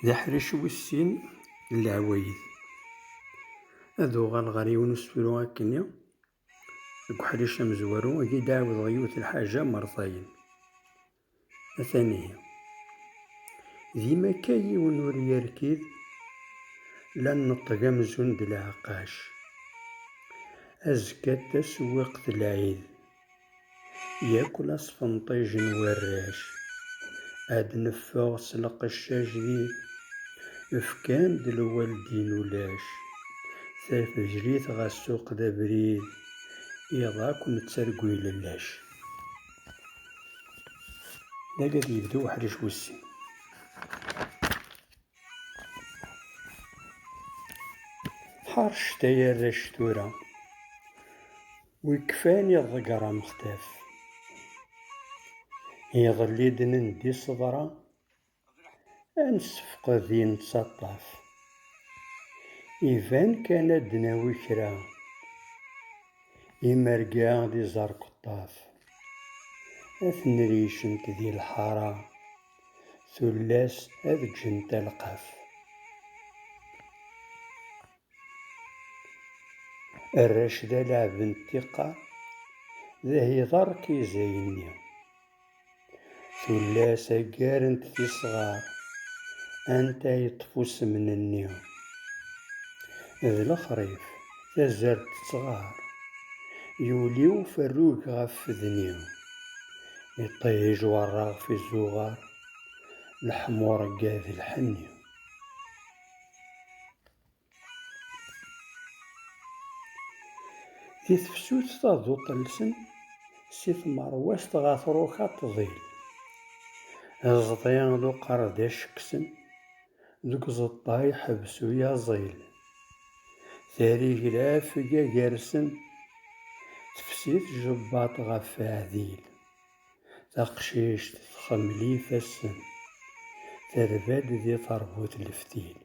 D aḥric wis sin n leɛwayed. Ad uɣaleɣ ɣer yiwen usefru akkenni, deg uḥric amezwaru, ad yi-d-ɛawdeɣ yiwet n lḥaǧa mertayen. Atan ihi. Dima akka yiwen ur yerkid, la nneṭṭeg amzun d leɛqac. Azekka d tasewwiqt n lɛid. Yak la sfenṭijen warrac. Ad neffeɣ s lqeccac di. Fkan-d lwaldin ulac. Tafejrit ɣa ssuq d abrid. Iḍ akk nettargu ilellac. Dagi ad yebdu uḥric wis sin. Ḥarcet ay arrac tura. Wi kfan i ḍegger amextaf. Iḍelli i d-nendi ṣṣebra, ad nessefqed i nettaṭṭaf. Iban kan ad d-nawi kra, imerga d iẓerkeṭṭaf. Ad ten-ricent di lḥara, tullas ad ǧǧent alqaf. Arrac d alaɛeb n tiqqa, d ahiḍar k izayenni. Tullas aggarent tisɣar, anta yeṭṭef usemnenni. D lexrif, tazart tettɣar, yuli uferrug ɣef fedni. Iṭij werraɣ f izuɣar, leḥmuṛegga d lḥenni. Di tefsut taduṭ-nsen si tmerwazt ɣer truka ṭṭḍil, iẓḍi d uqerdac kksen, deg uẓeṭṭa iḥbes uyaẓil. Tarigla fga gar-sen, tefsi tjebbaṭ ɣef Faɛdil. Taqcict txemmel ifassen, terba-d di terbut leftil.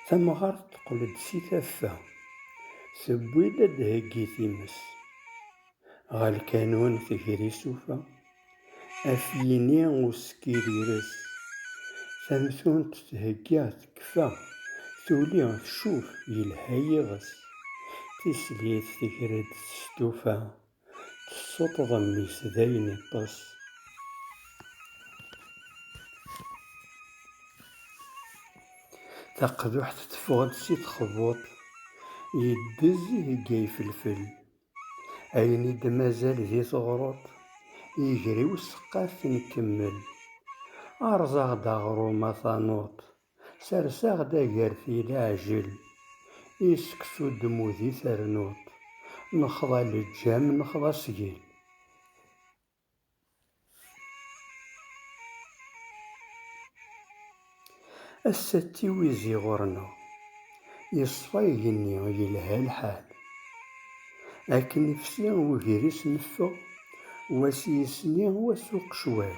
Tamɣart teqqel-d si taffa, tewwi-d ad d-theggi times. Ɣer lkanun tegri sufa, af yini usekkir ires. Tamtunt thegga tekfa, tuli tcuf yelha yiɣes. Tislit tegra-d s stufa. tessuṭṭḍem mmi-s dayen iṭṭes. Taqduḥt teffeɣ-d si txebbuṭ, yeddez deg ifelfel. Ayen i d-mazal di teɣruḍt, yeger i useqqaf nkemmel. Erẓ-aɣ-d aɣrum a tanuḍt, Serseɣ-d agerti leɛjel, i seksu dmudi ternuḍ, nexḍa leǧam nexḍa sgel. Ass-a d tiwizi ɣur-neɣ, yeṣfa igenni yelha lḥal. Akken ifsi ugris neffeɣ, wa s yisni wa s uqecwal.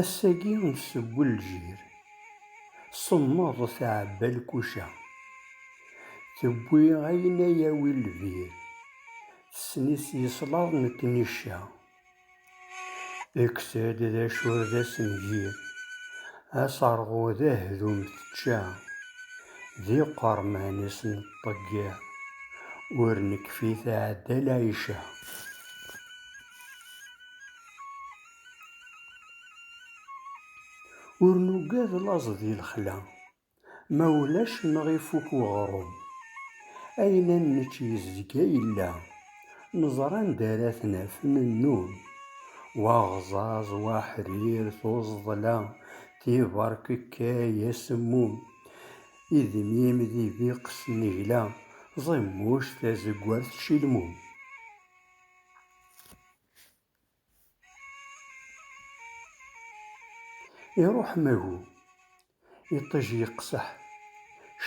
Ass-agi nsewwel lǧir. Semmeḍ tɛebba lkuca. Tewwi ayen a yawi lbir. Tessen-it yeslaḍ nekkni cca. Ekkes-d d acu ur d asengir. Aserɣu d ahdum tečča. D iqerman i s-neṭṭeggiḍ. Ur nekfi tɛedda lɛica. Ur nugad laẓ di lexla, ma ulac neɣ ifuk weɣrum. Ayen ad nečč yezga yella, neẓra anda ara t-naf nennum. Wa aɣẓaẓ, wa aḥrir, tuẓḍla, tiberkekkay, asemmum, idmim d ibiq s nnegla, ẓimmuc, tazegwart, cilmum. Iruḥ magu, iṭij yeqseḥ,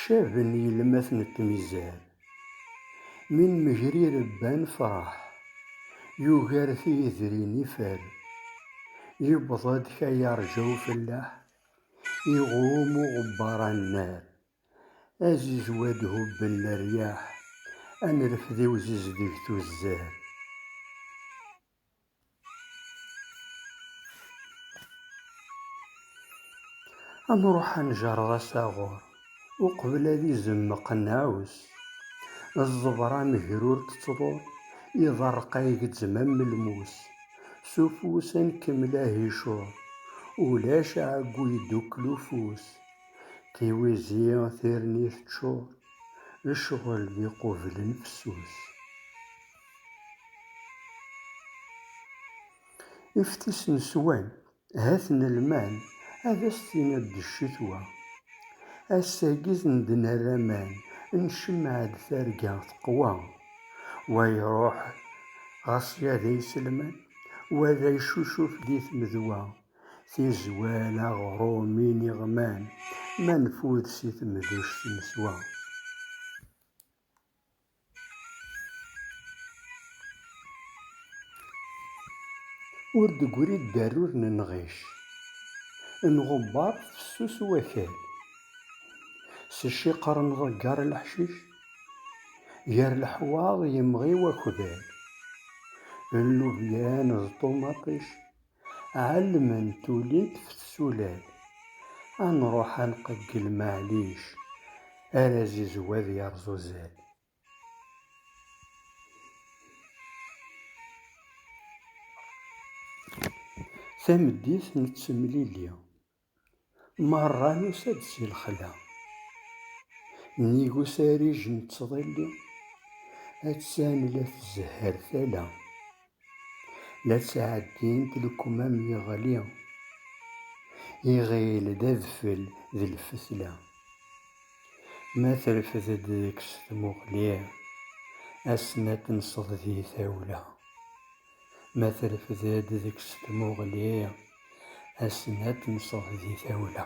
caben yelmat n tmizar. Mi nmegrir bban fraḥ, yugar tiyedrin ifer. Yewweḍ-d kayarǧa ufellaḥ, iɣum uɣebbar annar. Azizwa d-hubben leryaḥ, a nrefd-iw zizdeg tuzzar. A nruḥ a njerred asaɣur, uqbel ad izemmeq nnɛus. Ẓẓebra amegrur tettḍur, iḍerreq agezzem am lmus. S ufus a nkemmel ahicur, ulac aɛeggu yeddukel ufus. tiwizi tirni teččur, lecɣel d iqublen fessus. Iftis n swan, hat n lman, ad as-tiniḍ d ccetwa. Ass-agi d-nerr aman, ncemmeɛ-d targa teqwa. Wa iruḥ ɣas yada iselman, wa d icucuf di tmedwa. tizwal, aɣrum, iniɣman, ma nfud si temduct neswa. Ur d-gri ddarur n nɣic, nɣebbar fessus wakal, s ciqer nḍegger leḥcic, gar leḥwaḍ yemɣi wakbal, llubyan d ṭumaṭic. Ɛelment ulint f tsulal. A nruḥ a nqeggel maɛlic, ar azizw ad yerẓ uzal. Tameddit nettemlili. Merra yusa-d si lexla. Nnig usarij n ttḍilli, attan la tzehher tala. La ttɛeddint lekmam yeɣli, iɣil d adfel d lfetla. Ma trefd-d deg-s tmuɣli, ad s-natenseḍ di tawla. ma trefd-d deg-s tmuɣli, asen ad temseḍ di tawla.